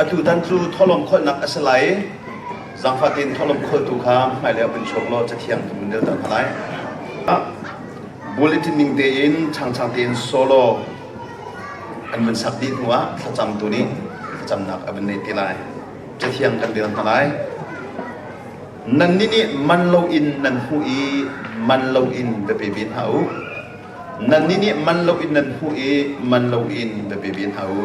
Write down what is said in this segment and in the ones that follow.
Atutan cu thawlawm kholhnak a si lai. Zangfah tein thawlawm kholtu kha hmailei ah vun chuak law cathiang tu vun delter hna lai. Bulletin ning tein changchang tein solo an vun sak dih hnu ah thlacamtu nih thlacamnak a vun neih te lai. Cathiang kan rel hna lai. Nannih nih man loin nan hmuh i man loin va pe ve hna u. Nannih nih man loin nan hmuh i man loin va pe ve hna u.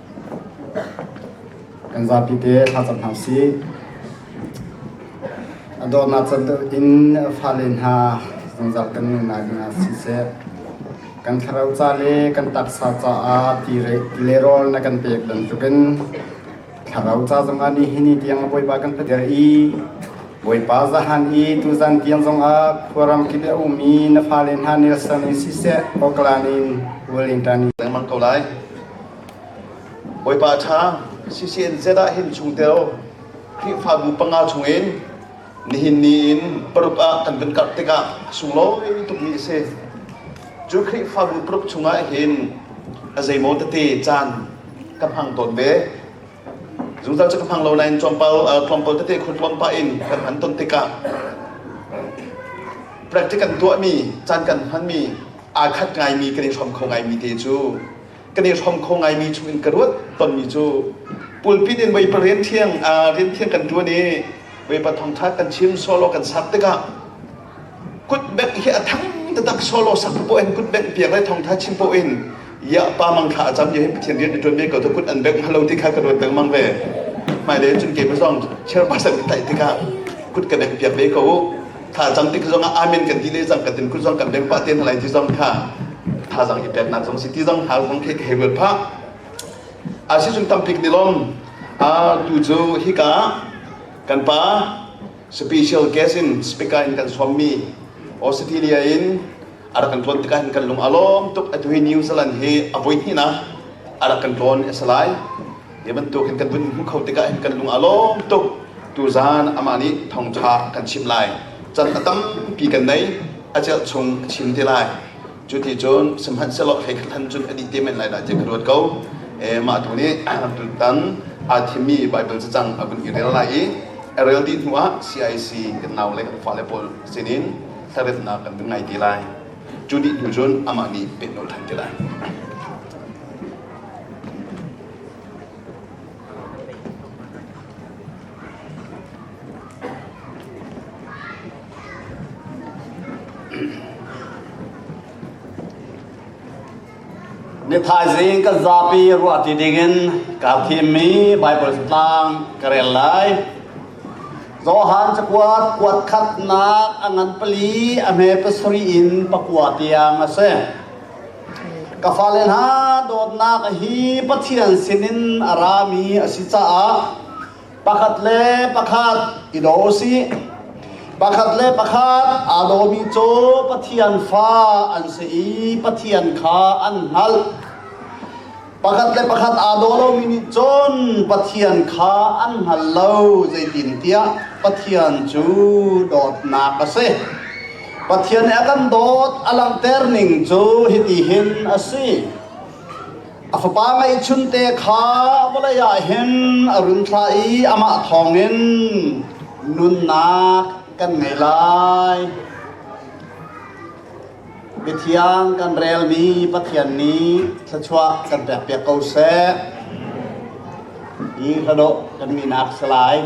Kan zapi te thlacam hna usih. A dawtnak can in fale hna zungzal kan nung lai ding ah siseh, kan thlarau ca le kan taksa caah tile rawl na kan pek bantukin thlarau ca zongah nih hini tiang Bawipa kan peter i Bawipa zahan i tuzan tiang zongah khuaram kip a um i na fale hna nelsan i siseh, awklan in ualing tan i lengmang ko lai. Bawipa ṭha, CCNZ ah hin chungtel Khrihfabu panga chungin nihin ni in paruk ah kan vun karh tikah a sunglawi tukmi a si. Cu Khrihfabu paruk chungah hin a zeimaw tete caan ka hmang tawn ve. Zungzal cu ka hmang lo nain tlawmpal tlawmpal tete khur tlawm pah in kan hman ton tikah practice kan tuahmi, caan kan hmanmi aa khat ngaimi kan i hrom kho ngaimi te cu kan i hrom kho ngaimi chungin ka ruat tonmi cu pulpit in voi parian thiang rian thiang kan tuan i voi pathong ṭha kan chim solo kan sak tikah kutbek hi a thang tatak solo sak pawh in kutbek piak le thongtha chim pawh in ya pa mang kha a cam ya hi pathian rian tuan ve ko to kut an bek halo ti kha ka ruat dang mang ve mai le cun ke ma zong chairperson ki tai tikah kut ka bek piak ve ko thazaang ti zong ah amen kan ti le zang kan tim kun zong kan beng pa te hna lai ti zong kha thazaang i pek nak zong si ti zong hal zong khi hei ruat pha a si sung tam pik ni lom a tu cu hi ka kan pa special guest in speaker in kan som mi Australia in ara kan tuan tika hin kan lung alom tuk atu hi New Zealand hi avoi hi na ara kan tuan esalai Hi bantuk hin kan vun hmuh kho tikah hin kan lung a lawm tuk. Tuzaan amah nih thongtha a kan chimh lai. Can a tampi kan nei. A celh chung a chim te lai. Cu ti cun sihmanhsehlaw hei khat han cun a dih te men lai dah tiah ka ruat ko. E, mah tu nih tutan aa thimmi Baibal cacang a vun i rel lai i a rel dih hnuah CIC kan naule kan fale pawl sinin thlaremnak kan vun ngai te lai. Cu dih hnu cun amah nih pehnawl ṭhan te lai. Ni thaizing kan zapi ruah ti dingin ka thimmi Bible tlang ka rel lai. Johan cakuat kuat khatnak a ngan pali a hme pasari in pakua tiang a si. ka fale hna dawtnak hi Pathian sinin a rami a si caah pakhat le pakhat i do si pakhat le pakhat aa domi cu Pathian fa an si i Pathian kha an hngalh Pakhat le pakhat aa daw lomi nih cun Pathian kha an hngal lo zeitintiah Pathian cu dawtnak a si. Pathian nih a kan dawt a langhter ning cu hiti hin a si. A fapa ngeihchun te kha vawlei ah hin a run thlah i amah thawngin nunnak kan ngei lai. Mithiang kan relmi Pathian nih thluachuah kan pekpiak ko seh. Hi hladawh kan minak si lai.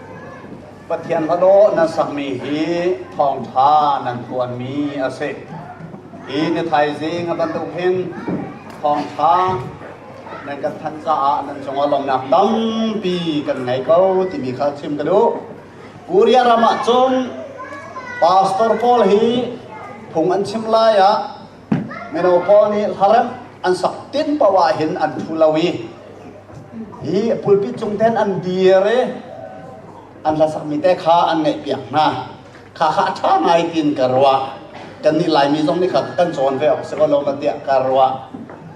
Pathian va dawh nan sakmi hi thawngṭha nan tuanmi a si. Hi na thaizing a bantuk hin thawngṭha nan kan thanh caah nan cungah lawmnak tampi kan ngei ko timi kha chim ka duh. Korea ram ah cun pastor pawl hi phung an chim lai ah Mino pawl nih hlaremh an sak tin paoh ahhin an thu lo i hi pulpit cung ten an dir i an hla sakmi te kha an ngaihpiak hna. Kha kha a ṭha ngai tiin ka ruah. Kannih Laimi zong nih kha kan cawn ve awk si ko lo ma tiah ka ruah.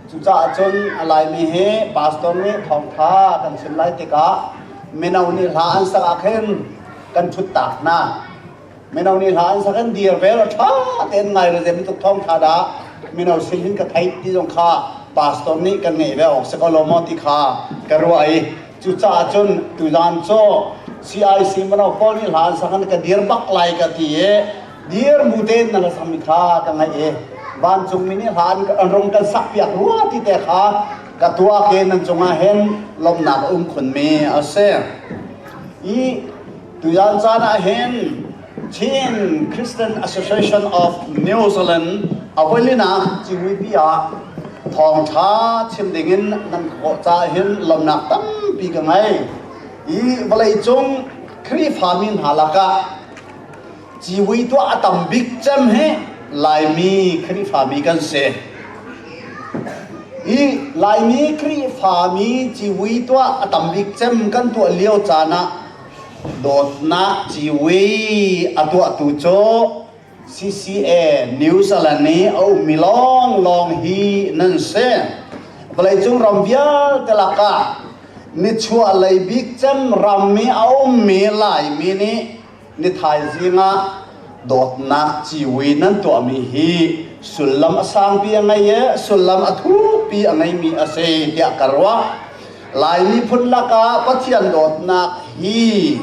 Cucaah cun a Laimi hi pastor nih thawngṭha kan chim lai tikah mino nih hla an sak ahkhin kan ṭhuttak hna. Mino nih hla an sak an dir vel a ṭha tein ngai le zeim tuk thawng ṭha dah mino sin hin ka theih ti zong kha pastor nih kan ngaih ve awk si ko lo maw ti kha ka ruah i cucaah cun tuzan cu CIC mino pawl nih hla an sak an ka dir bak lai ka ti i dir bu tein nan sammi kha ka ngaih i vancungmi nih hla an, an rung kan sak piak rua ti te kha ka tuah ke nan cungah hin lawmhnak a um khunmi a si i Tuyan caan ah hin Chin Christian Association of New Zealand avoilin ah cihuipi ah thawngṭha chim dingin nan ka kawh ca hin lomnak tampi ka ngei i vawleicung Khrihfami hna lakah Cihui tuah a tam bik cem hi Laimi Khrihfami kan si. I Laimi Khrihfami cihui tuah a tam bik cem kan tuah lio caan ah dawtnak cihui a tuahtu cu CCA New Zealand i a ummi lawnglawng hi nan si. Vawleicung ram vialte lakah nichuah lei bik cem ram i a ummi Laimi nih ni thaizing ah dawtnak ciwi nan tuahmi hi sullam a sangpi a ngei i sullam a thupi a ngeimi a si tiah ka ruah lai miphun lakah pathian dawtnak hi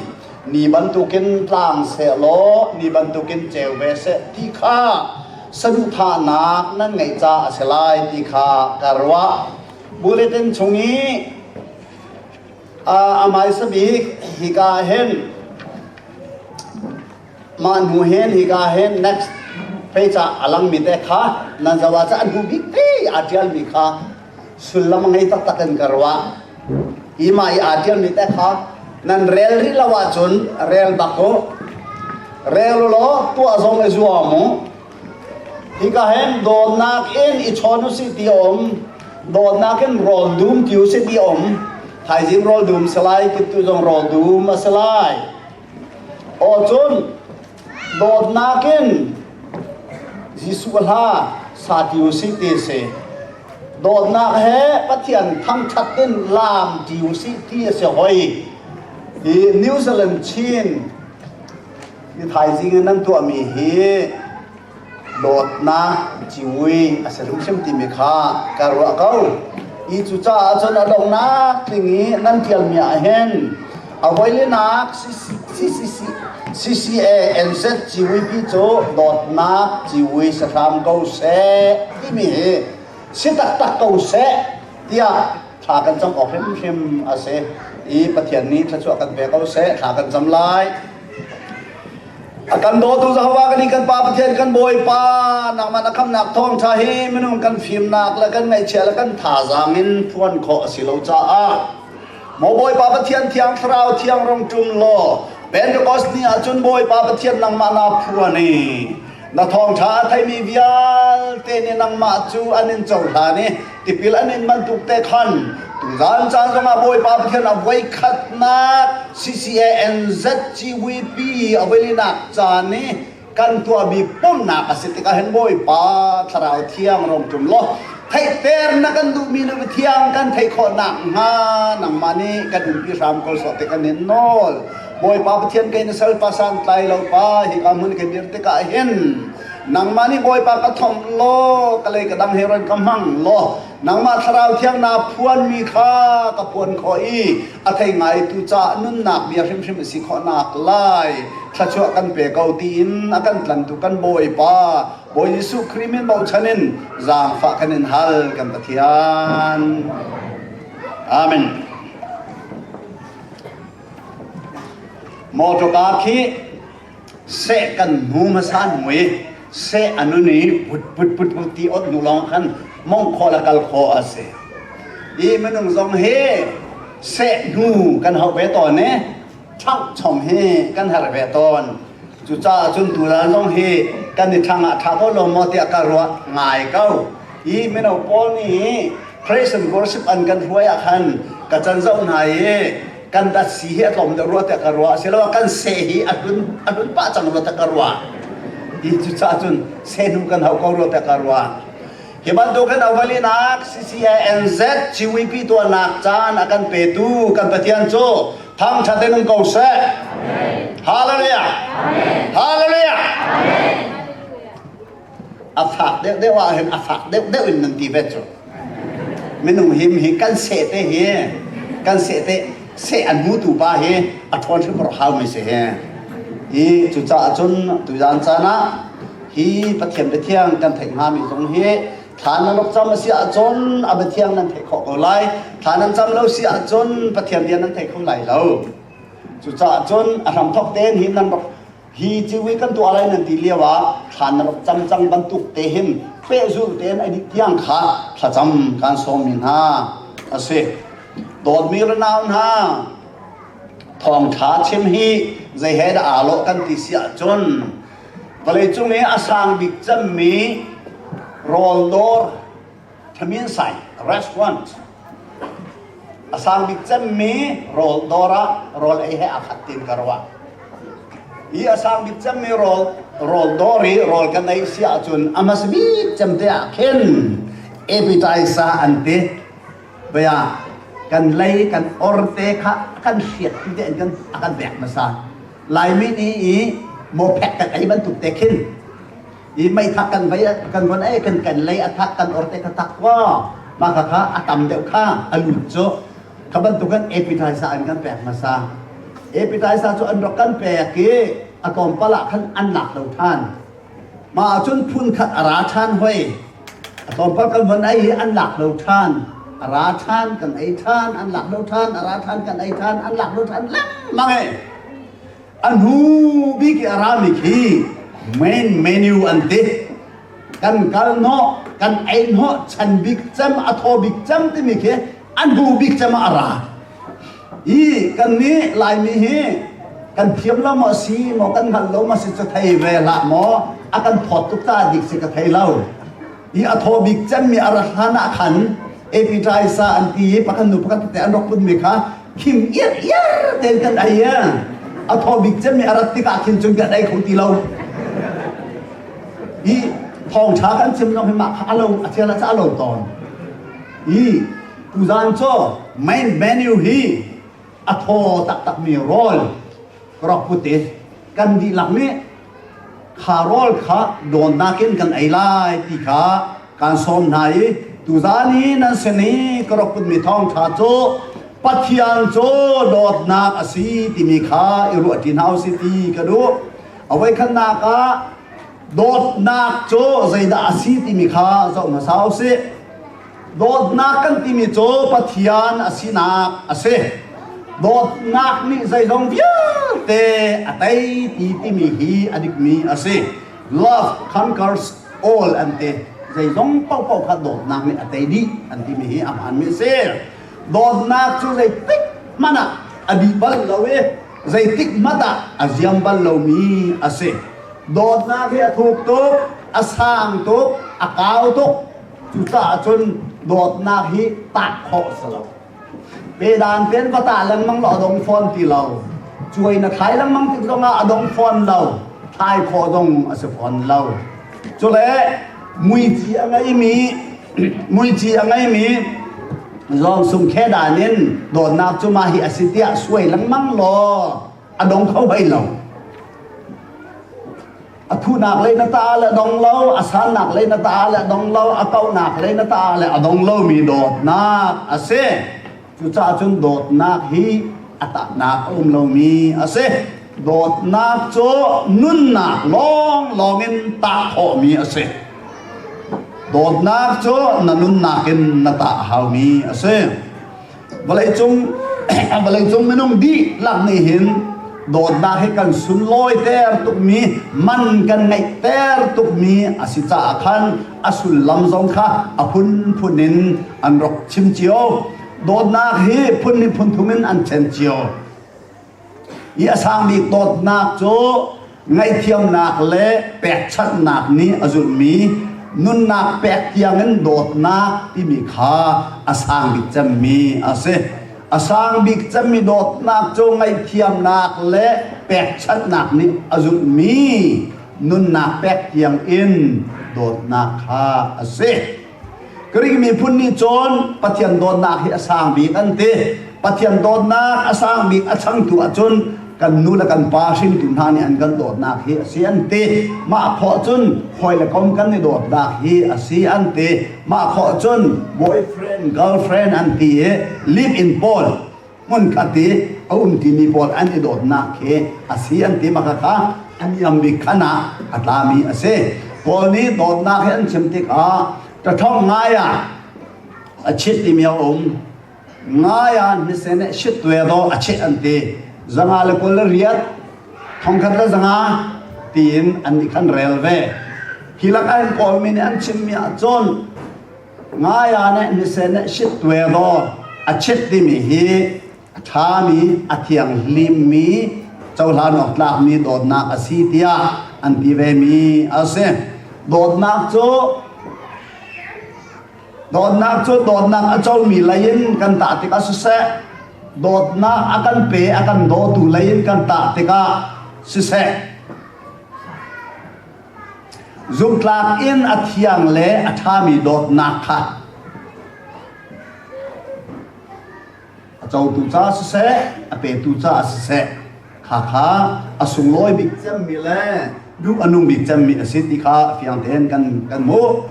ni bantukin tlang seh law ni bantukin ceu ve seh ti kha saduhthahnak nan ngeih ca a si lai ti kha ka ruah bulletin chung i a maisa bik hika hen mah hnu hen hika hen next pei ca a langmi te kha nan zawa ca an hnu bik te aa ṭialmi kha sullam ngei taktak in ka ruah hi mah i aa ṭialmi te kha nan rel rih lo ahcun rel bak u rel u law tuah zong i zuam u Hika hem dawtnak in i chawn u si ti om dawtnak in rol dum ti u si ti om thaizing rol dum se lai tu zong rol dum a se lai o cun dawtnak in Jesu hla sa ti u si ti si dawtnak he pathian thangthat in lam ti u si ti a si hoi i New Zealand Chin Mi thaizing in nan tuahmi hi dawtnak ciui a si hrimhrim timi kha ka ruah ko. I cucaah cun a donghnak tling i nan ṭialmi ah hin a voilinak CCCCCANZ ciuipi cu dawtnak ciui si hram ko seh timi hi si taktak ko seh tiah thla kan cam awk hrimhrim a si i Pathian nih thluachuah kan pe ko seh thla kan cam lai a kan dawtu Jehovah kan i kan Pa Pathian kan Bawipa nangmah na khamnak thawngṭha hi minung kan fimnak le kan ngaihchia le kan thazaang in phuan khawh a si lo caah maw Bawipa Pathian thiang thlarau thiang rong ṭum law Pentecost ni ahcun Bawipa Pathian nangmah naa phuan i Na thawngṭha a theimi vialte nih nangmah cu an in cohlan i tipil an in bantuk te khan tuzan caan zongah Bawipa Pathian a voikhatnak CCANZ CVP awilinak caan i kan tuahmi pumhnak a si tikah hin Bawipa Thlarau Thiang rawmṭum law theihter na kan duhmi nu mithiang kan theih khawh nakhnga nangmah nih kan umpi hram ko sawh ti kan in nawl Bawipa Pathian ke na sal pasan tlai lo pa hi ka mun ke dir tikah hin nangmah nih Bawipa ka thom law ka lei ka dang he ran ka hmang law nangmah thlarau thiang naa phuan mi kha ka phuan khawh i a thei ngaitu caah nunnak bia hrimhrim a si khawhnak lai thluachuah kan pe ko tiin a kan tlantu kan Bawipa Bawi Jesuh Khrih min bochan in zaangfah kan in hal kan Pathian Amen Motor car khi seh kan hmu hmasa an mui seh anun i put put put put ti ot nu lawng khan mong khaw la kal khaw a si i minung zong hi seh hnu kan hau ve tawn i thang chom hi kan har ve tawn cucaah cun tutan zong hi kan i thang ah tha ko lo maw tiah ka ruah ngai ko i mino pawl nih Christian worship an kan hruai ah khan ka can zoh hna i kan dat si hi a tlawm deuh rua tiah ka ruah a si lo kan seh hi a hlun a hlun pah cang rua tiah ka ruah ti cu cah cun senum kan hau ko rua tiah ka ruah hi bantukin awalinak CCANZ CWP tuahnak caan a kan petu kan Pathian cu thangṭhat in um ko seh hallelujah hallelujah a fak deuhdeuh ahhin a fak deuhdeuh in nan ti ve cu. Minung him hi kan seh te hi kan seh te seh an hmutu pa hi a ṭhawn hrimhrim haumi si hi. Hi cucaah cun tuzan caan ah hi Pathian biathiang kan theih hngami zong hi thla nan rak cam a si ahcun a biathiang nan theih khawh ko lai. Thla nan cam lo si ahcun Pathian bia nan thei kho lai lo. Cucaah cun a hramthok tein hi nan rak hi thil hi kan tuah lai nan ti lio ah thlan na rak cam cang bantuk te hin pehzulh tein ai tiang kha thlacam kan sawmmi hna a si dawtmi runau hna thawngtha chim hi zei he dah aa lawh kan ti si ahcun vawleicung i a sang bik cemmi rawldawr Ṭhaminsai restaurant a sang bik cemmi rawl dawr ah rawl ei he aa khat tiin ka ruah. Hi a sang bik cemmi rawl rawl dawr i rawl kan ei si ahcun a hmasa bik cemte ah khin appetizer an ti. Baya kan lei kan or te kha a kan hriat tu tein kan a kan vek hmasa. Laimi nih i mawphek kan ei bantuk te khin i meithak kan vai kan von ei kan kan lei athak kan or te kha thak kwa ma kha kha atam deuh kha alut cu kha bantukan appetizer an kan pek hmasa appetizer cu an rak kan pek i atawmpal ah khan an lak lo than ma cun phun khat ara than hoi atawmpal kan von ei hi an lak lo than ara than kan ei than an lak lo than ara than kan ei than an lak lo than lang mang e a hnu bik i a rami khi main menu an ti kan kal hnawh kan ei hnawh chan bik cem a thaw bik cem timi khi an hnu bik cem ah a ra i kannih laimi hi kan thiam lo maw si maw kan hngalh lo maw si cu thei ve hlah maw a kan phawt tuk caah dik si ka thei lo hi a thaw bik cemmi a rat hlan ah khan appetizer an ti i pakhat nu pakhat te an rak punmi kha khim iar iar tein kan ei a thaw bik cemmi a rat tikah khin cun kan ei kho ti lo i thawngṭha kan chim lo hi mah kha a lo a chiala ca a lo tawn i tuzan cu main menu hi a thaw taktakmi rawl ka rak put i kan dihlak nih Kha rawl kha dawtnak in kan ei lai ti kha kaan sawm hna i tuzani nan sin i ka rak kunmi thawngṭha cu Pathian cu dawtnak a si timi kha i ruahṭi hna u sih ti ka duh. Avoi khatnak ah dawtnak cu zeidah a si timi kha zoh hmasa u sih. Dawtnak kan timi cu Pathian a sinak a si. Dawtnak nih zeizong vialte a tei ti timi hi a dikmi a si. Love conquers all an ti. Zeizong paohpaoh kha dawtnak nih a tei dih an timi hi a hmaanmi a si. Dawtnak cu zeitik hmanh ah a dih bal lo i zeitik hmanh ah a ziam bal lomi a si. Dawtnak hi a thuk tuk, a sang tuk, a kau tuk, Cucaah cun dawtnak hi tak khawh a si lo. Pedan tein va ta lengmang law a dong fawn ti lo. Cuai na thai lengmang tik zongah a dong fawn lo. Thai khawh zong a si fawn lo. Cule muici a ngeimi muici a ngeimi Zawngsung khe dan in dawtnak cu ma hi a si tiah suai lengmang law a dong kho hlei lo. a thuhnak lei na ta le dong lo a sannak lei na ta le dong lo a kauhnak lei na ta le a dong lomi dawtnak a si cucaah cun dawtnak hi a tahnak a um lomi a si dawtnak cu nunnak lawnglawng in tah khawhmi a si dawtnak cu na nunnak in na tah haumi a si vawleicung vawleicung minung dihlak nih hin dawtnak hi kan sunlawi ter tukmi man kan ngeih ter tukmi a si caah khan a sullam zong kha a phunphun in an rak chim cio dawtnak hi phun nih phun thum in an ṭhen cio i a sang bik dawtnak cu ngaihthiamnak le pekchanhnak nih a zulhmi nunnak pek tiangin dawtnak timi kha a sang bik cemmi a si. A sang bik cemmi dawtnak cu ngaihthiamnak le pekchanhnak nih a zulhmi nunnak pek tiangin dawtnak kha a si. Greek miphun nih cun Pathian dawtnak hi a sang bik an ti. Pathian dawtnak a sang bik a changtu ahcun kan nu le kan pa hringtu hna nih an kan dawtnak hi a si an ti. Mah khawh cun hawi le kom kan i dawtnak hi a si an ti. Mah khawh cun boyfriend, girlfriend an ti i live in pawl hmunkhat i a um timi pawl an i dawtnak khi a si an ti ma khakha an iam bik khan ah a tlami a si paul nih dawtnak hi an chim tikah ṭathawng ngai ah a chit timi a um ngai ah hnisen nih shit ve daw a chit an ti zanga le kol le riat thongkhat le zanga tiin an i khan rel ve hi lak an kawlmi nih an chimmi ahcun Ngaya nih nisen nih shit tuai law a chit timi hi a ṭhami, a thianghlimmi, cohlan awk tlakmi dawtnak a si tiah an ti vemi a si. Dawtnak cu dawtnak cu dawtnak a comi lei in kan tah tikah siseh, dawtnak a kan pe a kan dawtu lei in kan tah tikah siseh, Zumhtlak in a thiang le a ṭhami dawtnak kha a cotu caah siseh, a petu caah siseh, kha kha a sunglawi bik cemmi le duh a nung bik cemmi a si ti kha fiang tein kan, kan hmuh.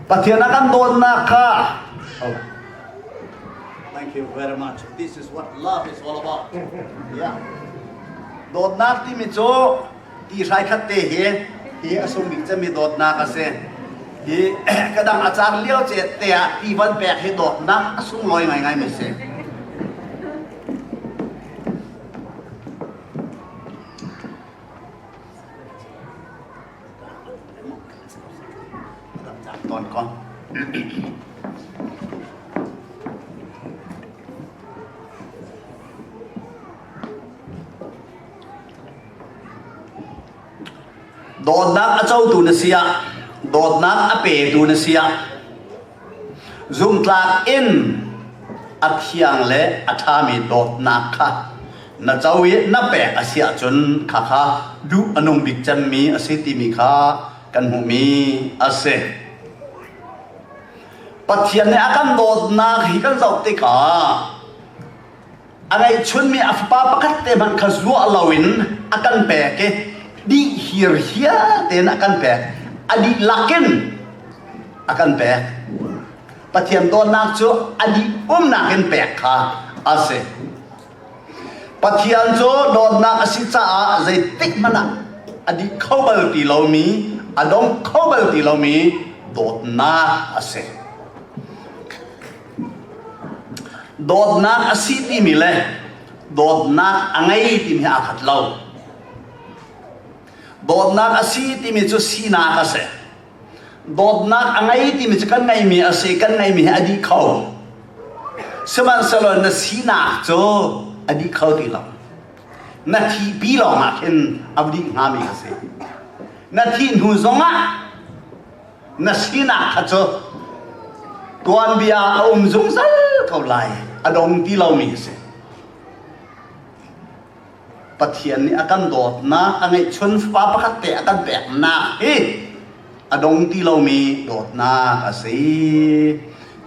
Pathian a kan dawtnak kha Thank you very much. This is what love is all about. Yeah. Dawtnak timi cu ti hrai khat te hi hi a sung bik cemi dawtnak a si. Hi kadang a car lio ce te ah ti van pek hi dawtnak a sung loi ngaingai mi si. Dawtnak a cotu na si ah, dawtnak a petu na si ah, Zumhtlak in a thiang le a ṭhami dawtnak kha na co i na pek a si ahcun khakha duh a nung bik cemmi a si timi kha kan hmuhmi a si. Pathian nih a kan dawtnak hi kan zoh tikah a ngeihchunmi a fapa pakhat te hmanh kha zuah loin a kan pek i dih hir hial tein a kan pek a dihlak in a kan pek pathian dawtnak cu a dih umnak in pek kha a si pathian cu dawtnak a si caah zeitik hmanh ah a dih kho bal ti lomi a dom kho bal ti lomi dawtnak a si Dawtnak a si timi le dawtnak a ngei timi hi aa khat lo. Dawtnak a si timi cu sinak a si. Dawtnak a ngei timi cu kan ngeihmi a si, kan ngeihmi hi a dih kho. Sihmanhsehlaw na sinak cu a dih kho ti lo. Na thihpi lawngah khin a dih hngami ka si. Na thih hnu zongah na sinak kha cu tuanbia a um zungzal ko lai a dong ti lomi a si Pathian nih a kan dawtnak a ngeihchun fapa pakhat te a kan peknak hi a dong ti lomi dawtnak a si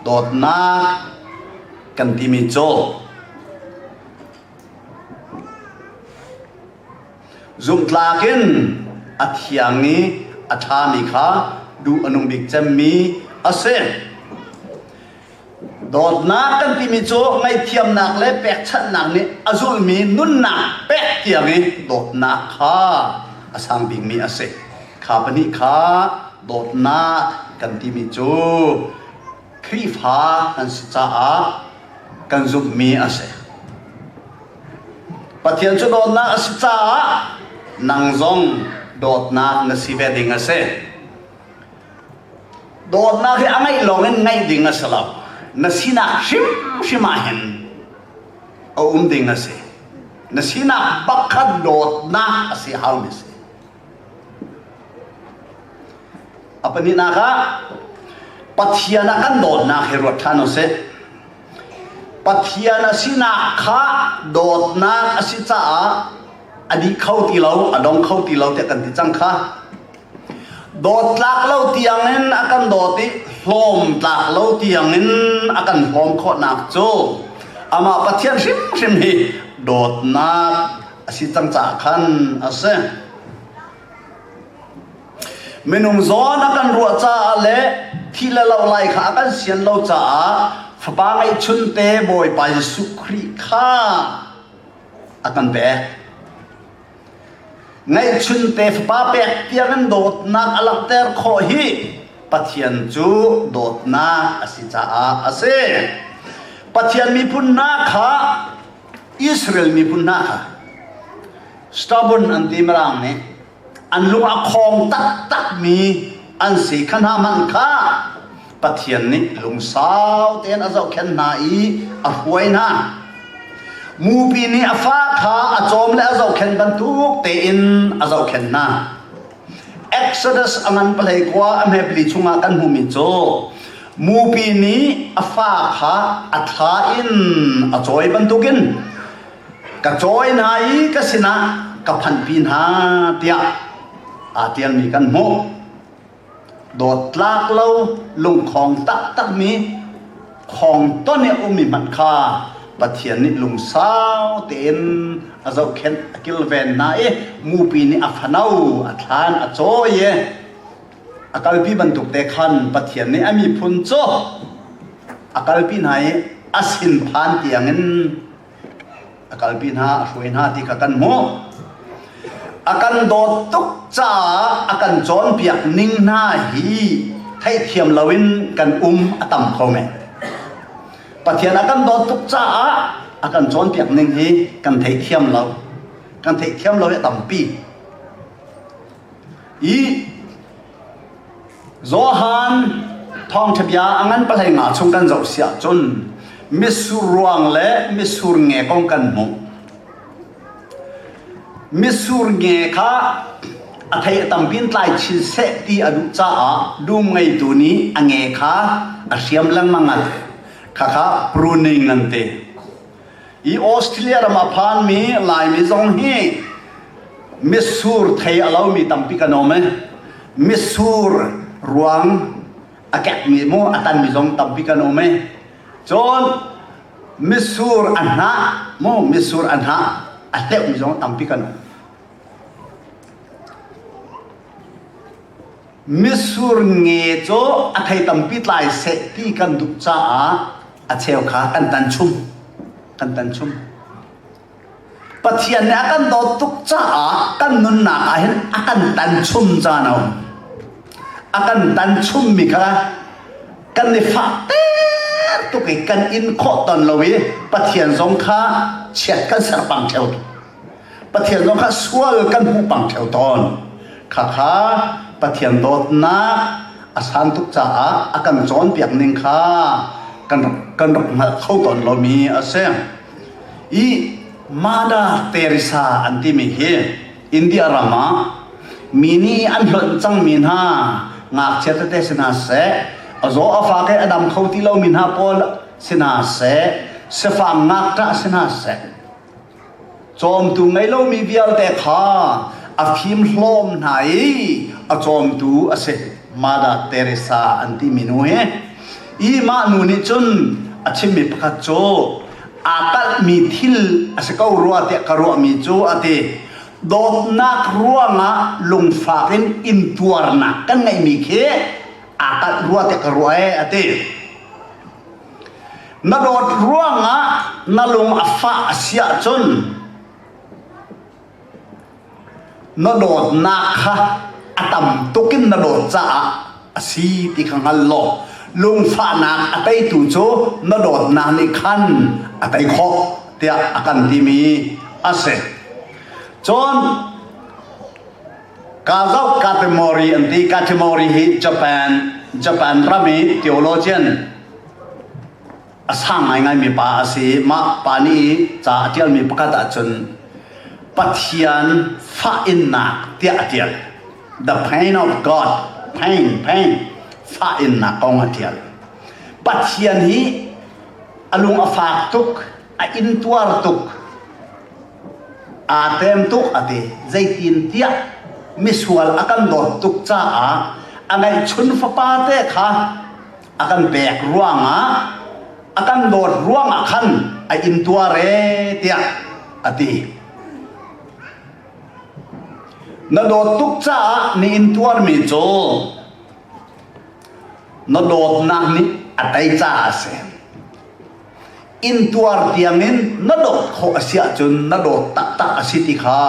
dawtnak kan timi cu Zungtlak in a thiang i a ṭhami kha duh a nung bik cemmi a si. Dawtnak kan timi cu ngaihthiamnak le pekchanhnak nih a zulmi nunnak pek tiang i dawtnak kha a sang bikmi a si. Kha pahnih kha dawtnak kan timi cu Khrihfa kan si caah kan zumhmi a si. Pathian cu dawtnak a si caah nang zong dawtnak na si ve ding a si. Dawtnak hi a ngaih lawng in ngaih ding a si lo. Na sinak hrimhrim ah hin a um ding a si. Na sinak bakhat dawtnak a si halmi si. A pahnihnak ah Pathian a kan dawtnak hi ruat ṭhan u sih. Pathian a sinak kha dawtnak a si caah a dih kho ti lo, a dong kho ti lo tiah kan ti cang kha. Dawt tlak lo tiang in a kan dawt i hlawm tlak lo tiang in a kan hlawm khawhnak cu amah Pathian hrimhrim hi dawtnak a si cang caah khan a si minung zawn a kan ruah caah le thi le lo lai kha a kan sian lo caah fapa ngeihchun te bawipa jesuh khrih kha a kan pek ngeihchun te fapa pek tiangin dawtnak a langhter khawh hi pathian cu dawtnak a si caah a si pathian miphun hna kha Israel miphun hna kha stubborn an ti mirang nih an lung a khawng taktakmi an si kha hna hmanh kha Pathian nih lungsau tein a zohkhenh hna i a hruai hna. Mupi nih a fa kha a cawm le a zohkhenh bantuk tein a zohkhenh hna. Exodus a ngan palei kua a hmepli chungah kan hmumi cu mupi nih a fa kha a thla in a cawi bantukin ka cawi hna i ka sinah ka phanhpi hna tiah aa tialmi kan hmuh. Dawt tlak lo lungkhong taktakmi khawngton i a ummi hmanh kha Pathian nih lungsau tein a zohkhenh a kilven hna i mupi nih a fano a thlan a cawi i a kalpi bantuk te khan Pathian nih a miphun cu a kalpi hna i a sin phan tiangin A kalpi hna, a hruai hna ti kha kan hmuh. A kan dawt tuk caah a kan cawnpiak ning hna hi theihthiam loin kan um a tam kho men. Pathian a kan dawt tuk caah a kan cawnpiak ning hi kan thei thiam lo. Kan thei thiam lo hi a tampi. I Johan thawngṭha bia a ngan palai nga chung kan zoh si ahcun mitsur ruang le mitsur nge kong kan hmuh. Mitsur nge kha a thei a tampin tlai chin seh ti a duh caah dum ngeitu nih a nge kha a hriam lengmang ngat. Khakha pruning an ti. i Australia ram a phanmi Laimi zong hi mitsur thei a lomi tampi kan um i mitsur ruang a kekmi mu a tanmi zong tampi kan um i cun mitsur a hnah mu mitsur a hnah a hleuhmi zong tampi kan um. Mitsur nge cu a thei tampi tlai seh ti kan duh caah a cheu kha kan tan chung kan tan chung Pathian nih a kan dawt tuk caah kan nunnak ah hin a kan tan chung caan a um a kan tan chungmi kha kan i fah tuk i kan in khawh ton lo i Pathian zong kha chiat kan ser pang theo Pathian zong kha sual kan hmuh pang theo tawn. Khakha Pathian dawtnak a san tuk caah a kan cawnpiak ning kha kan rak kan rak hngalh kho tawn lomi a si. I Mada Teresa an timi hi India ram ah mi nih an hlonh cangmi hna ngakchia tete si hna seh a zaw a fa ke a dam kho ti lomi hna pawl si hna seh sifang ngakṭah si hna seh Cawmtu ngei lomi vialte kha a fimhlawm hna i a cawmtu a si. Mother Teresa an timi nu hi i mah nu nih cun a chimmi pakhat cu aa kalhmi thil a si ko rua tiah ka ruahmi cu a ti dawtnak ruangah lungfak in intuarnak kan ngeihmi khi aa kalh rua tiah ka ruah ee a ti. Na dawt ruangah na lung a fah a si ahcun na dawtnak kha a tam tuk in na dawt caah a si ti kha hngal law lungfahnak a teitu cu na dawtnak nih khan a tei khawh tiah a kan timi a si. Cun Ka zoh Katimori an ti Katimori hi Japan Japan ram i theologian a sang ngaingaimi pa a si mah pa nih ca a ṭialmi pakhat ahcun Pathian fah innak tiah a ṭial the pain of God pain pain fah innak kong a ṭial Pathian hi a lung a fak tuk a intuar tuk aa tlem tuk a ti. Zeitintiah misual a kan dawt tuk caah a ngeihchun fapa te kha a kan pek ruangah a kan dawt ruangah khan a intuar ee tiah a ti. Na dawt tuk caah na intuarmi cu na dawtnak nih a tei caah a si. intuar tiangin na dawt khawh a si ahcun na dawt taktak a si ti kha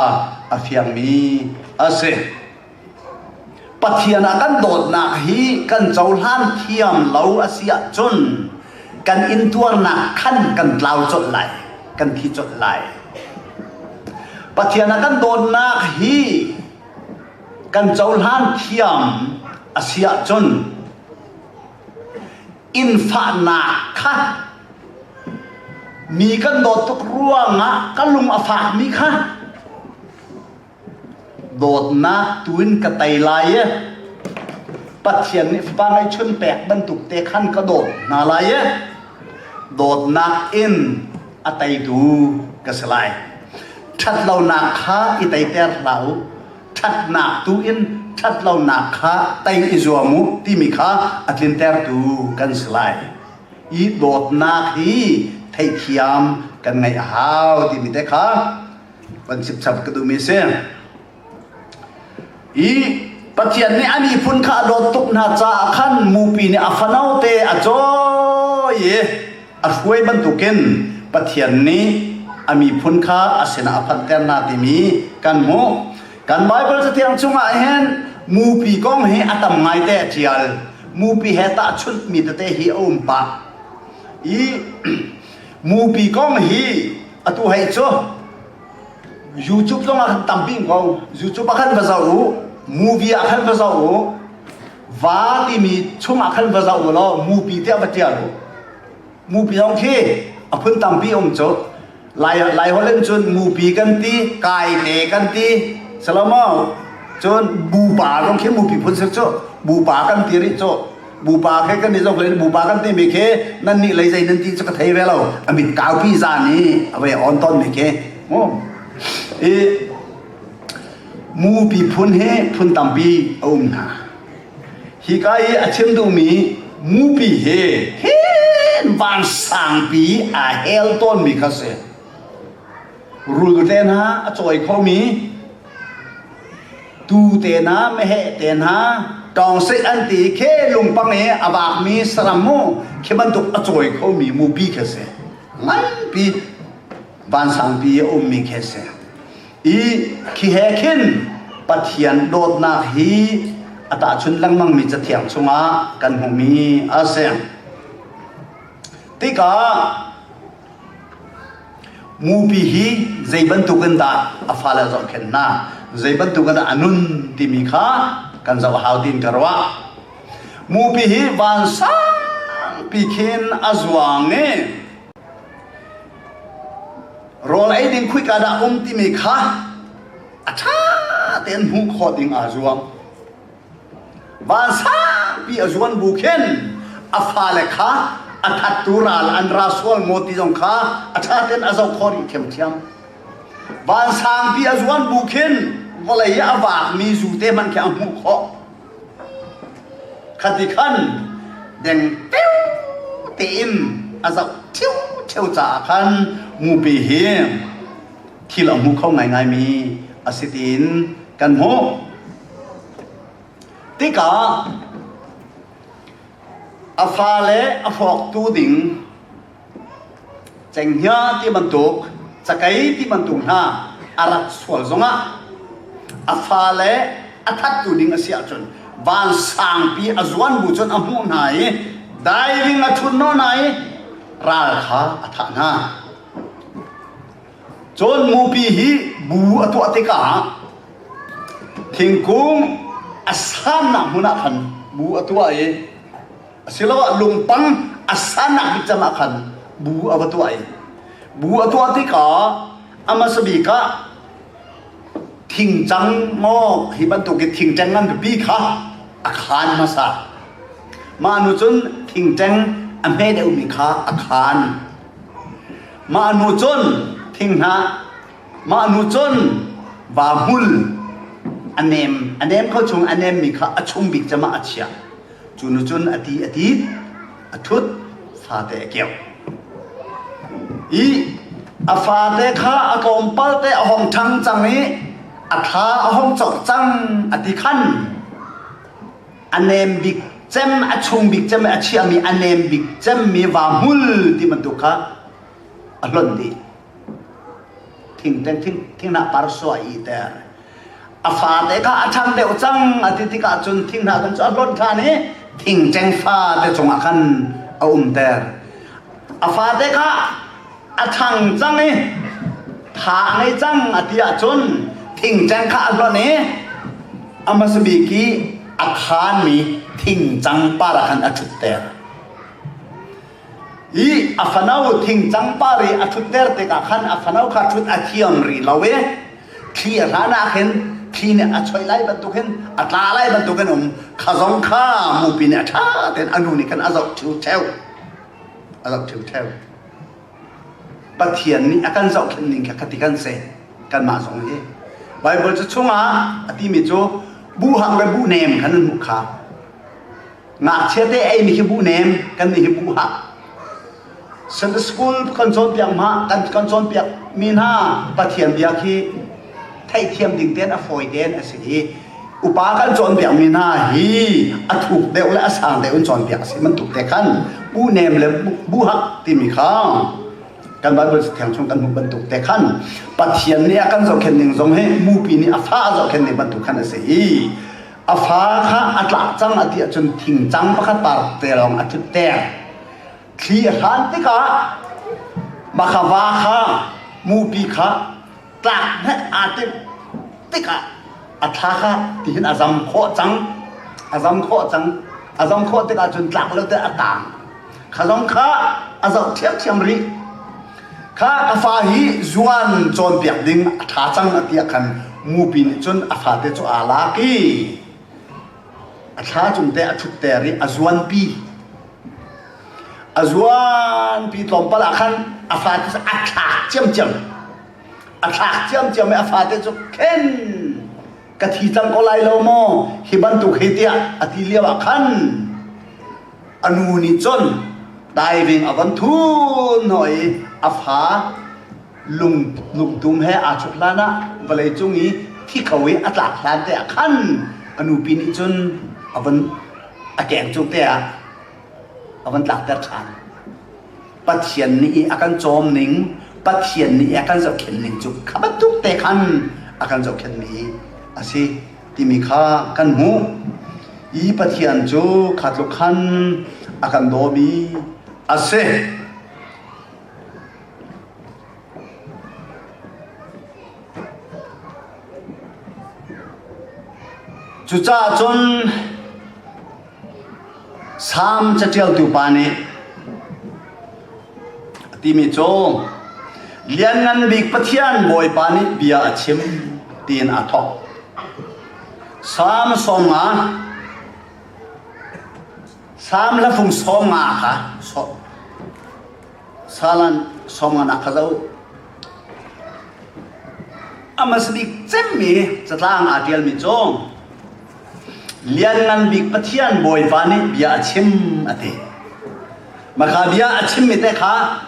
a fiangmi a si. Pathian a kan dawtnak hi kan cohlan thiam lo a si ahcun kan intuarnak khan kan tlau colh lai, kan thi colh lai. Pathian a kan dawtnak hi kan cohlan thiam a si ahcun innfahnak kha mi kan dawt tuk ruangah ka lung a fakmi kha dawtnak tuin ka tei lai e pathian nih fapa ngaihchun pek bantuk te khan ka dawt hna lai e dawtnak in a teitu ka si lai ṭhat lonak kha i teiter hlah u ṭhatnak tu in ṭhat lonak kha tei i zuam u timi kha a tlintertu kan si lai. I dawtnak hi theithiam kan ngeih a hau timi te kha van chipchap ka duhmi a si. I Pathian nih a miphun kha a dawt tuk hna caah khan mupi nih a fanote a cawi i A hruai bantukin Pathian nih a miphun kha a sinah a phanter hna timi kan hmuh. Kan Baibal catiang chungah hin mupi kong hi a tam ngaite a ṭial. Mupi he tahchunhmi tete hi a um pah. I mupi kong hi atu hei cu YouTube zongah kan tampi ko. YouTube ah khan va zoh u, movie ah khan va zoh u, va timi chungah khan va zoh u law mupi tiah va ṭial u mupi zong khi a phun tampi um cu lai lai holen cun mupi kan ti kai te kan ti salomo cun bupa zong khi mupi phun sir cu bupa kan ti rih cu bupa khi kan ni zong le bupa kan ti mi khi nan nih lei zei nan ti cu ka thei ve lo amit kaupi zan i a ve on ton mi khi mu i Mupi phun he phun tampi a um hna. Hika i a chim duhmi mupi he hen vansangpi aa hel tawnmi kha si. Rul te hna a cawi khomi tu te hna meheh te hna tawngsei an ti khi lungpang i a bakmi saram mu khi bantuk a cawi khomi mupi kha si. Nganpi vansangpi a ummi khi a si i khi he khin pathian dawtnak hi a tahchun lengmangmi cathiang chungah kan hmumi a si tikah mupi hi zei bantuk in dah a fale zohkhen hna zei bantuk in dah a nun timi kha kan zoh a hau tiin ka ruah mupi hi vansangpi khin a zuang i Rawl ei ding khuika dah um timi kha a ṭha tein hmuh khawh ding aa zuam. Van saupi a zuan bu khin a fale kha a thattu ral an ra sual maw ti zong kha a ṭha tein a zoh khawh rih thiamthiam. Van sangpi a zuan bu khin vawlei i a vaakmi zute hmanh khi a hmuh khawh. Khati khan dengteo tein a zoh ṭheo caah khan mupi hi thil a hmu kho ngaingaimi a si tiin kan hmuh. Tikah a fale a hrawktu ding Cenghngia ti bantuk, cakei ti bantuk hna a rat sual zongah a fale a thattu ding a si ahcun van sangpi a zuan bu cun a hmuh hna i diving a ṭhunno hna i ral kha a thah hna. Cun mupi hi bu a tuah tikah thingkung a sannak hmun ah khan bu a tuah i asiloah lungpang a sanak bik cang ah khan bu a va tuah i bu a tuah tikah a hmasa bik ah thingcang maw hi bantuk i thingṭeng ngan pipi kha a khaan hmasa mah nu cun thingṭeng a hme deuhmi kha a khaan mah nu cun thinghnah mah nu cun vahmul a nem a nem kho chung a nemmi kha a chung bik cangah a chiah Cu nu cun a ti a ti a thut fate a keuh i a fate kha a kawmpal te a hong ṭhang cang i a thla a hong cawk cang a ti khan a nem bik cem a chung bik cem a chiahmi a nem bik cemmi vahmul ti bantuk kha a hlonh dih thingteng thing thingnak par suah i ter a fate kha a ṭhang deuh cang a ti tikah cun thinghnah dum cu a hlonh ṭhan i thingṭeng fate cungah khan a umter a fate kha a ṭhang cang i tha a ngei cang a ti ahcun thingṭeng kha a hlonh i a hmasa bik i a khanmi thingcang para khan a ṭhutter hi a fano thingcang pari a ṭhutter tikah khan a fano kha ṭhut a thiam rih lo i thli a hlan ah khin thli nih a choih lai bantukin a tla lai bantukin um kha zong kha mupi nih a ṭha tein a nu nih khan a zoh ṭhiu theo a zoh ṭhiu theo Pathian nih a kan zohkhenh ning kha khati kan se kanmah zong hi Baibal cu chungah a timi cu bu hang le bu nem khan an hmuh kha ngakchiate ei ni hi buh nem kan nih hi buh hak Sunday school kan cawnpiak ma kan kan cawnpiak mi hna pathian bia khi theihthiam ding ten a fawi ten a si i upa kan cawnpiak mi hna hi a thuk deuh le a sang deuh in cawnpiak a si man tuk te khan bu nem le bu hak timi kha kan bible thiang chung kan hmuh bantuk te khan pathian nih a kan zohkhen ning zong hi mupi nih a fa a zohkhen ning bantuk khan a si i a fa kha a tlak cang a ti ahcun thingcang pakhat parte lawng a ṭhutter thli a hlan tikah makhava kha mupi kha tlak hne aa timh tikah a thla kha tihin a zam khawh cang a zam khawh cang a zam khawh tikah cun tlak lo te a taang kha zong kha a zoh ṭhiamṭhiam rih kha ka fa hi zuan cawnpiak ding a ṭha cang a tiah khan mupi nih cun a fate cu aa lak i a thla cung te a ṭhutter i a zuanpi a zuanpi tlawmpal ah khan a fate cu a thlak ciamciam a thlak ciamciam i a fate cu khen ka thi cang ko lai lo maw hi bantuk hi tiah a ti lio ah khan anu nih cun diving a von thun no i a fa lung lungtum he aa chuk hlan ah vawlei cung i thi kho i a tlak hlan te ah khan anu pi nih cun a von a keng cung te ah a van tlakter ṭhan. Pathian nih i a kan cawm ning, Pathian nih i a kan zohkhenh ning cu kha bantuk te khan a kan zohkhenhmi a si timi kha kan hmuh. Hi Pathian cu kha tluk khan a kan dawmi a si. Cucaah cun Salm caṭialtu pa nih a timi cu Lianngan Bik Pathian Bawipa nih bia a chim tiin aa thawk. Salm sawm nga Salm la fung sawm nga kha Salan sawm ngan ah ka zoh. A hmasa bik cemmi catlang aa ṭialmi cu Lianngan Bik Pathian Bawipa nih bia a chim a ti. Maka bia a chimmi te kha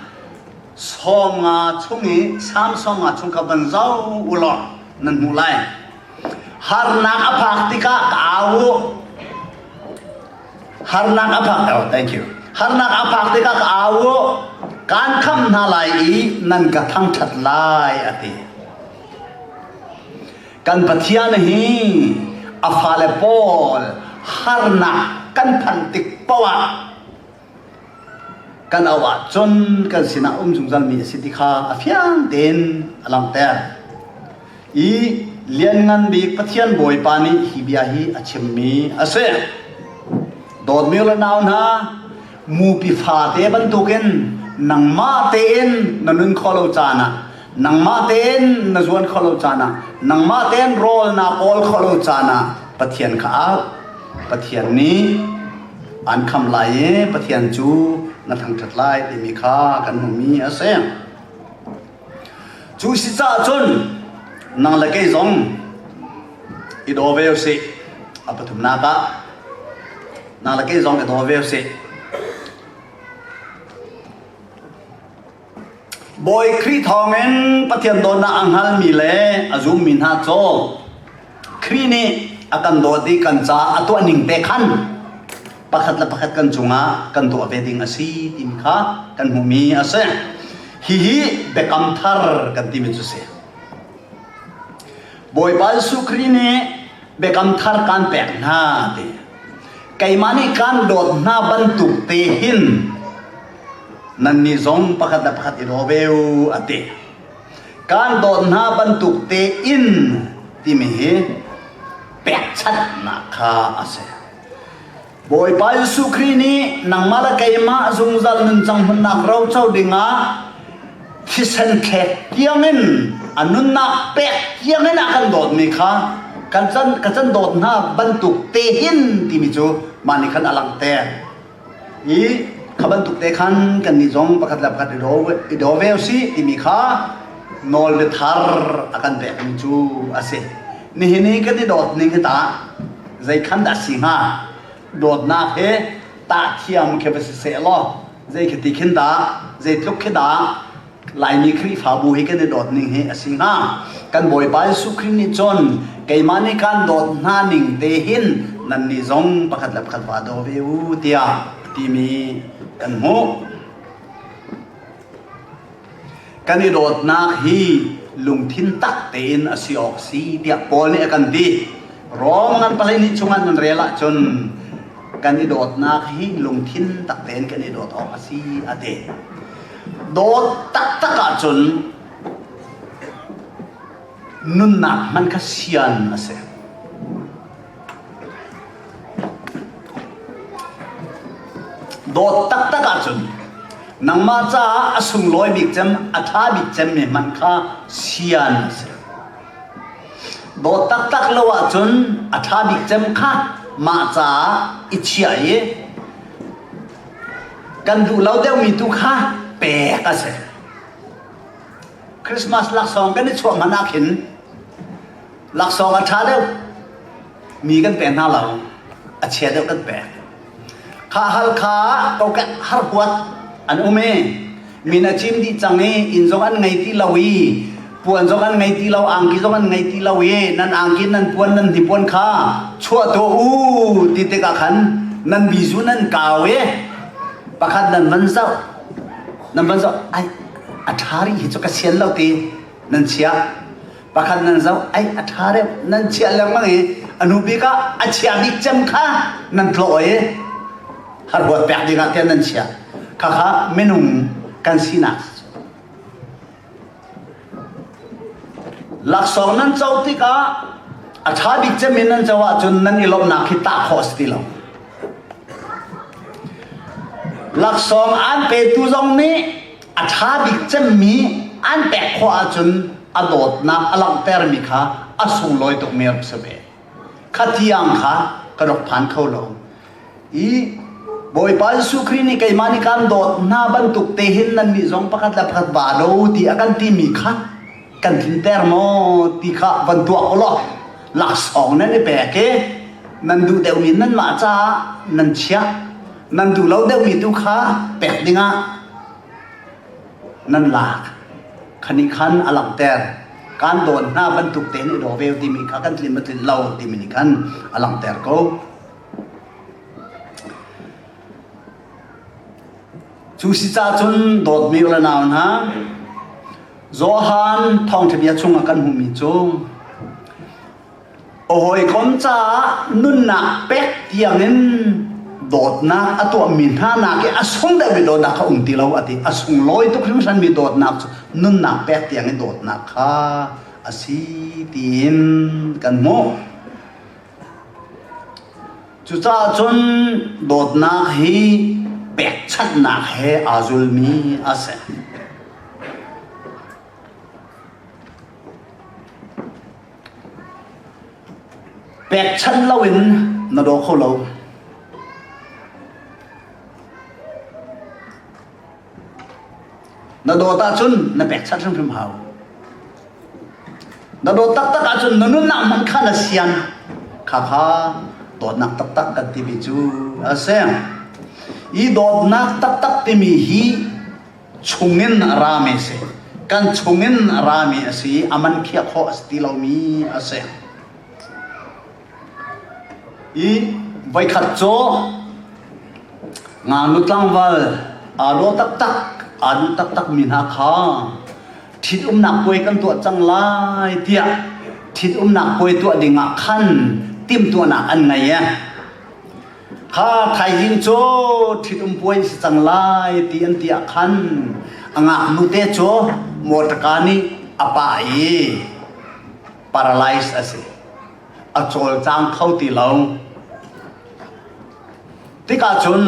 sawm nga chung i Samson nga chung kha van zoh u law nan hmuh lai. Harnak a phak tikah ka au u. Harnak a phak oh, thank you. Harnak a phak tikah ka au uh, kaan khamh hna lai i nan ka thangṭhat lai a ti. Kan Pathian hi a fale pawl harnak kan phan tik poah kan au ah cun kan sinah um zungzal mi a si ti kha a fiang tein a langter. i Lianngan Bik Pathian Bawipa nih hi bia hi a chimmi a si. Dawtmi le nau hna, mupi fate bantukin nangmah tein na nun kho lo caan ah, nangmah tein na zuan kho lo caan ah, nangmah tein rawl na kawl kho lo caan ah Pathian kha al. Pathian nih an kham lai i Pathian cu na thangṭhat lai timi kha kan hmuhmi a si. Cu si cah cun nang le kei zong i daw ve usih. A pathumnak ah nang le kei zong i daw ve usih. Bawi Khrih thawngin Pathian dawtnak a hngalmi le a zummi hna caw Khrih nih a kan dawt i kan caah a tuah ning te khan pakhat le pakhat kan cungah kan tuah ve ding a si timi kha kan hmuhmi a si. Hihi biakam thar kan timi cu si. Bawipa Jesuh Khrih nih biakam thar kan pek hna ti. Keimah nih kan dawt hna bantuk te hin nannih zong pakhat le pakhat i daw ve u a ti. kan dawt hna bantuk tein timi hi pekchanhnak kha a si bawipa jesuh khrih nih nangmah le keimah zungzal nunchang hmunnak roco dingah thisen thlek tiangin a nunnak pek tiangin a kan dawtmi kha kan can ka can dawt hna bantuk te hin timi cu mah nih khan a langte i kha bantuk te khan kannih zong pakhat le pakhat i daw ve u sih timi kha nawl le thar a kan pekmi cu a si nihin i kan i dawt ning hi tah zeikhan dah si hnga dawtnak hi tah thiam khi va si seh law zei khi ti khin dah zeitluk khi dah Laimi Khrihfabu hi kan i dawt ning hi a si hnga. Kan Bawipa Jesuh Khrih nih cun keimah nih kaan dawt hna ning te hin nannih zong pakhat le pakhat va daw ve u tiah timi kan hmuh. Kan i dawtnak hi lungthin tak tein a si awk si tiah Paul nih a kan ti. Rom nan palai nih chungah nan rel ahcun kan i dawtnak hi lungthin tak tein kan i dawt awk a si a ti. Dawt taktak ahcun nunnak hman kha sian a si. Dawt taktak ahcun nangmah caah a sunglawi bik cem a ṭha bik cemmi hman kha sian a si. Dawt taktak lo ahcun a ṭha bik cem kha mah caah i chiah i Kan duh lo deuhmi tu kha pek a si. Christmas laksawng kan i chuah hmanh ah khin laksawng a ṭha deuh mi kan pek hna lo a chia deuh kan pek. Kha Halkha kokek har huat an um i min a cim dih cang i inn zong an ngei ti lo i puan zong an ngei ti lo angki zong an ngei ti lo i nan angki nan puan nan hnipuan kha chuah tuah u ti tikah khan nan bizu nan kau i pakhat nan van zoh nan van zoh ai a ṭha rih hi cu ka sian lo ti nan chiah pakhat nan zoh ai a ṭha deuh nan chiah lengmang i a nu bik ah a chia bik cem kha nan tlawh i har huat pek ding ah tiah nan chiah khakha minung kan sinak laksawng nan co tikah a ṭha bik cem in nan co ahcun nan i lawmhnak hi tah khawh a si ti lo laksawng an petu zong nih a ṭha bik cemmi an pek khawh ahcun a dawtnak a langhtermi kha a sunglawi tukmi rak si ve kha tiang kha ka rak phan kho lo i Bawipa Jesuh Khrih nih keimah nih kaan dawt hna bantuk te hin nannih zong pakhat le pakhat ba lo ti a kan timi kha kan tliter maw ti kha van tuah ko law laksawng nan i pek i nan duh deuhmi nan mah caah nan chiah nan duh lo deuhmi tu kha pek dingah nan lak khani khan a langter kan don hna bantuk te ni do veu timi kha kan tlin matlin lo timi ni khan a langter ko Cu si cahcun dawtmi u le nau hna, Johan thawngṭha bia chungah kan hmuhmi cu a hawikom caah nunnak pek tiangin dawtnak a tuahmi hna nakin a sung deuhmi dawtnak kha um ti lo a ti. A sunglawi tuk hringhranmi dawtnak cu nunnak pek tiangin dawtnak kha a si tiin kan hmuh. Cucaah cun dawtnak hi pekchanhnak he aa zulmi a si. Pekchanh loin na daw kho lo. Na dawt ahcun na pekchanh hrimhrim hau. Na dawt taktak ahcun na nunnak hmanh kha na sian. Kha kha dawtnak taktak kan timi cu a si. I dawtnak taktak timi hi chungin rame si. Kan chungin rame a si i a man khiah khawh a si ti lomi a si. I voikhat cu ngaknu tlangval aa law taktak aa duh taktak mi hna kha ṭhitumnak puai kan tuah cang lai tiah ṭhitumnak puai tuah ding ah khan timhtuahnak an ngei e. Kha thaizing cu ṭhitum puai si cang lai ti an ti ah khan a ngaknu te cu motor car nih a pah i paralyze a si a cawlcang kho ti lo tikah cun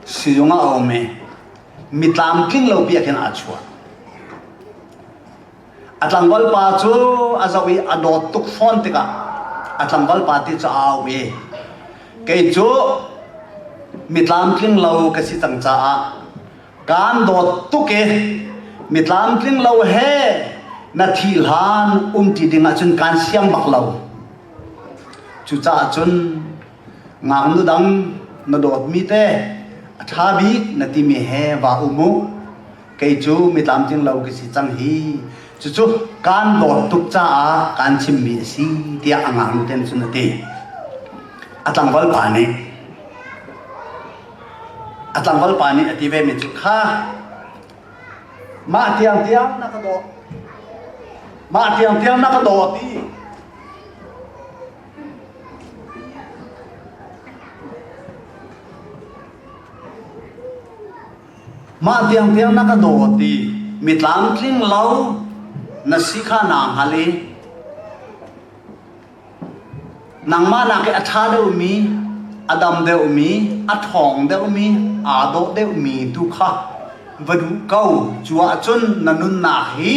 siyung a um i mi tlamtling lo pi ah khin aa chuah a tlangval pa cu a zoh i a dawt tuk fawn tikah a tlangval pa ti cu a au i kei cu mi tlamtling lo ka si cang caah kan dawt tuk e mi tlamtling lo he na thi hlan um ti ding ahcun kan siang bak lo cucaah cun ngaknu dang na dawtmi te a ṭha bik na timi he va um u kei cu mi tlamtling lo ka si cang hi cucu kan dawt tuk caah kan chimmi a si tiah a ngaknu ten cun a ti a tlangval pa nih a tlangval pa nih a ti vemi cu kha mah tiang tiang na ka daw mah tiang tiang na ka daw ti mah tiang tiang na ka daw ti mi tlamtling lo na si kha na hngal i Nangmah nakin a ṭha deuhmi, a dam deuhmi, a ṭhawng deuhmi, aa dawh deuhmi tu kha va duh ko. Cu ahcun na nunnak hi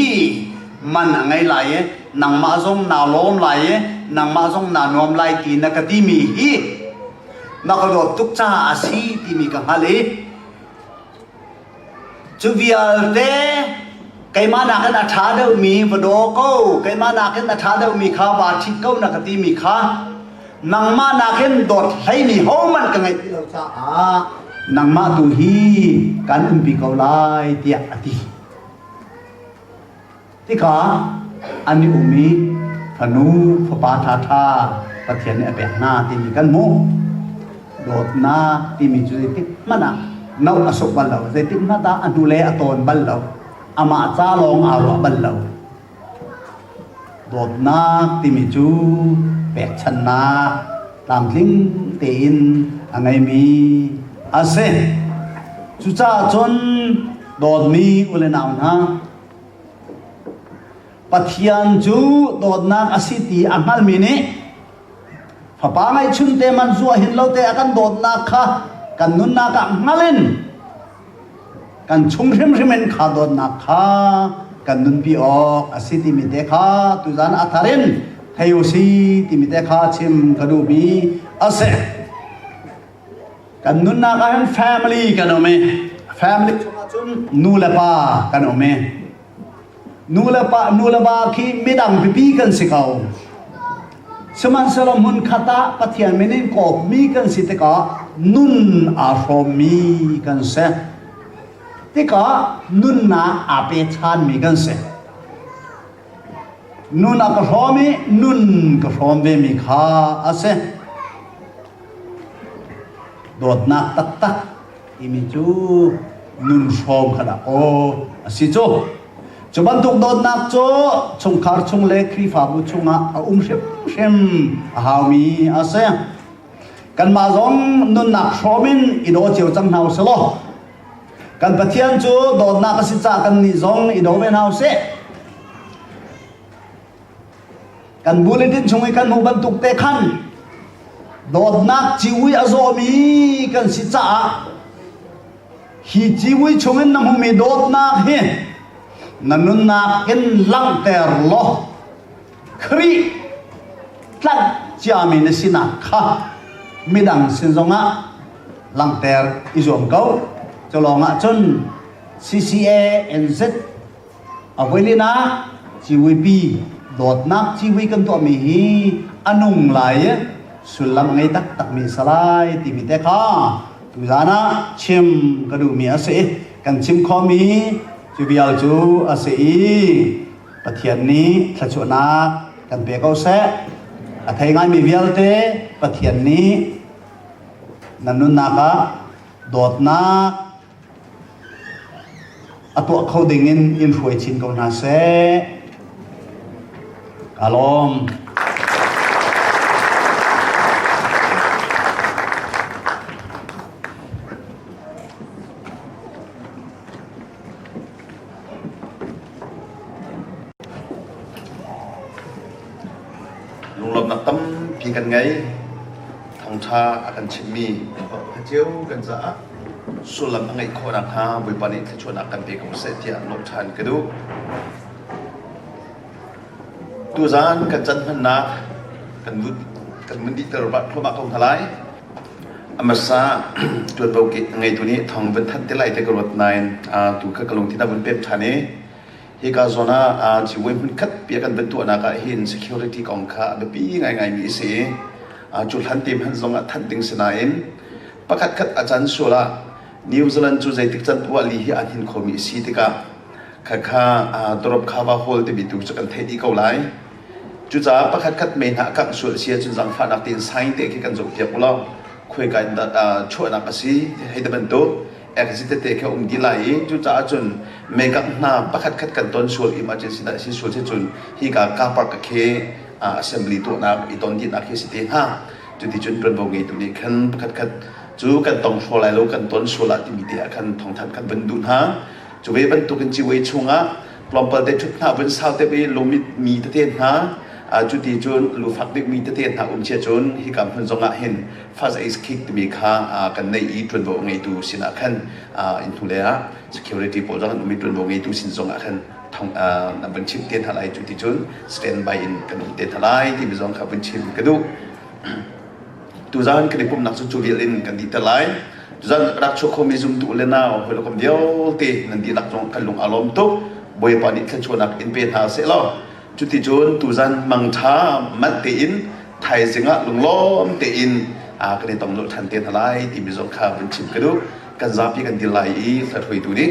man a ngei lai i nangmah zong naa lawm lai i nangmah zong naa nuam lai ti na ka timi hi na ka dawt tuk caah a si timi ka hngalh i Cu vialte keimah nakin a ṭha deuhmi va daw ko, keimah nakin a ṭha deuhmi kha vaa ṭhit ko na ka timi kha nangmah nakin dawt hleimi hohmanh ka ngeih ti lo caah nangmah tu hi kan umpi ko lai tiah a ti. Hika an i um i fanu fapa ṭhaṭha Pathian nih a pek hna timi kan hmuh. Dawtnak timi cu zeitik hmanh ah no a suk bal lo, zeitik hmanh ah a hnule a tawn bal lo, amah ca lawng aa ruah bal lo. Dawtnak timi cu pekchannak tlamtling tein a ngeimi a si. Cucaah cun dawtmi u le nau hna, Pathian cu dawtnak a si ti a hngalmi nih fapa ngeihchun te man zuah hin lo te a kan dawtnak kha kan nunnak ah hngal in kan chung hrimhrim in kha dawtnak kha kan nunpi awk a si timi te kha tuzan a thar in thei u si timi te kha chim ka duhmi a si. Kan nunnak ah hin family kan um i family chungah cun nu le pa kan um i nu le pa nu le pa khi midang pipi kan si ko sihmanhsehlaw hmun khat ah Pathian min in kawpmi kan si tikah nun aa hrawmmi kan si tikah nunnak aa pe ṭhanmi kan si Nun a ka hrawm i nun ka hrawm vemi kha a si. Dawtnak taktak timi cu nun hrawm khalah aw a si cu. Cu bantuk dawtnak cu chungkhar chung le Khrihfabu chungah a um hrimhrim a haumi a si. Kanmah zong nunnak hrawm in i daw cio cang hna u sih law Kan Pathian cu dawtnak a si caah kannih zong i do ve hna u sih. Kan bulletin chung i kan hmuh bantuk te khan dawtnak ciui a zawmi kan si caah hi ciui chungin na hmumi dawtnak hi na nunnak in langhter law Khrih tlanh ciami na sinak kha midang sin zongah langhter i zuam ko. Cu lawngah cun CCA NZ avoilin ah civuipi dawtnak civui kan tuahmi hi a nung lai i sullam a ngei taktakmi a si lai timi te kha tuzan ah chim ka duhmi a si i kan chim khomi cu vial cu a si i Pathian nih thluachuahnak kan pe ko seh. A thei ngaimi vialte Pathian nih nan nunnak ah dawtnak a tuah kho ding in in hruai chin ko hna seh. Ka lawm. lunglawmnak tampi kan ngei. Thawngṭha a kan chimhmi a cio kan caah sullam a ngeih khawh nakhnga Bawipa nih thluachuahnak kan pe ko seh tiah lawmh ṭhan ka duh. Tuzaan kan canhmannak kan vun kan vun dihter thluahmah ko hna lai. A hmasa ṭuanvo ngeitu nih thong vun thanh te lai ti ka ruat nain tu kha ka lungthin a vun pem ṭhan i hika zawn ah civui hmunkhat bia kan vun tuahnak ah hin security kong kha a biapi ngaingaimi a si i cu hlan te hmanh zong ah thanh ding si nain pakhatkhat a can sual ah New Zealand cu zeitik can uahli hi an hin khomi a si tikah khakha dorobkhava hall timi tu cu kan theih dih ko lai. Cucaah pakhat khat me hna a kangh sual a si ahcun zangfahnak tein sign te khi kan zohpiak u law khoika in dah chuahnak a si hei ti bantuk exit tete khi um dih lai i cucaah cun mekangh hna pakhat khat kan ton sual im ahcun sinah si sual si cun hika car park khi assembly tuahnak i ton dihnak hi a si te hnga cuti cun tuanvo ngeitu nih khan pakhat khat cu kan tong hraw lai lo kan ton sual ah timi te ah khan thongthanh kan vun duh hna cu ve bantuk in ciwei chungah tlawmpal te ṭhut hna vun sau te ve lumit mi tete hna cu ti cun lufak bik mi tete hna um chia cun hi kam hmun zongah hin faz eis kick timi kha kan nei i ṭuanvo ngeitu sinah khan in hnule ah security pawl zong an um i ṭuanvo ngeitu sin zongah khan thong an vun chim te hna lai cu ti cun stand by in kan um te hna lai timi zong kha vun chim ka duh Tuzan kan i pumhnak cu cu vial in kan dihter lai. Tuzan ka rak chuah khomi zumtu le nau hawi lokam vialte nan dihlak zong kan lung aa lawm tuk. Bawipa nih thluachuahnak in pe hna seh law. Cuticun tuzan mangtha manh tein thaizing ah lunglawm tein ah kan i tong lulh ṭhan te hna lai timi zong kha vun chim ka duh. Kan zapi kan dil lai i hlathuaitu nih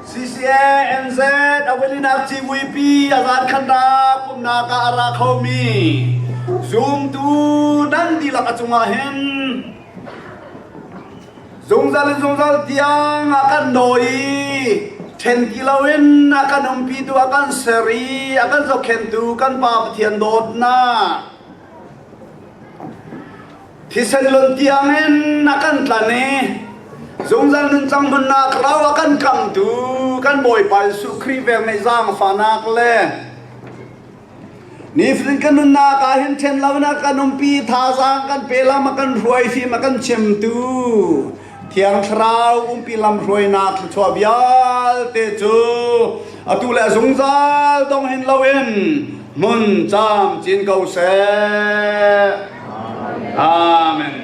CCA NZ awilinak civuipi azan khanrak umnak ah a ra khomi zumtu nan dihlak a cungah hin zungzal in zungzal tiang a kan dawi then kilo in a kan umpi tu a kan ser i a kan zokhentu kan pa Pathian dawtnak thisen lon tiang in a kan tlan i zungzal nunchang hmunnak rau a kan kamtu kan bawipa Jesuh Khrih veng neih zaangfahnak le nifatin kan nunnak ah hin ṭhen loin a kan umpi thazaang kan pe lam a kan hruai fim a kan chimtu Thiang Thlarau umpi lamhruainak thluachuah vialte cu atu le zungzal dong hin loin hmun cam cin ko seh. Amen.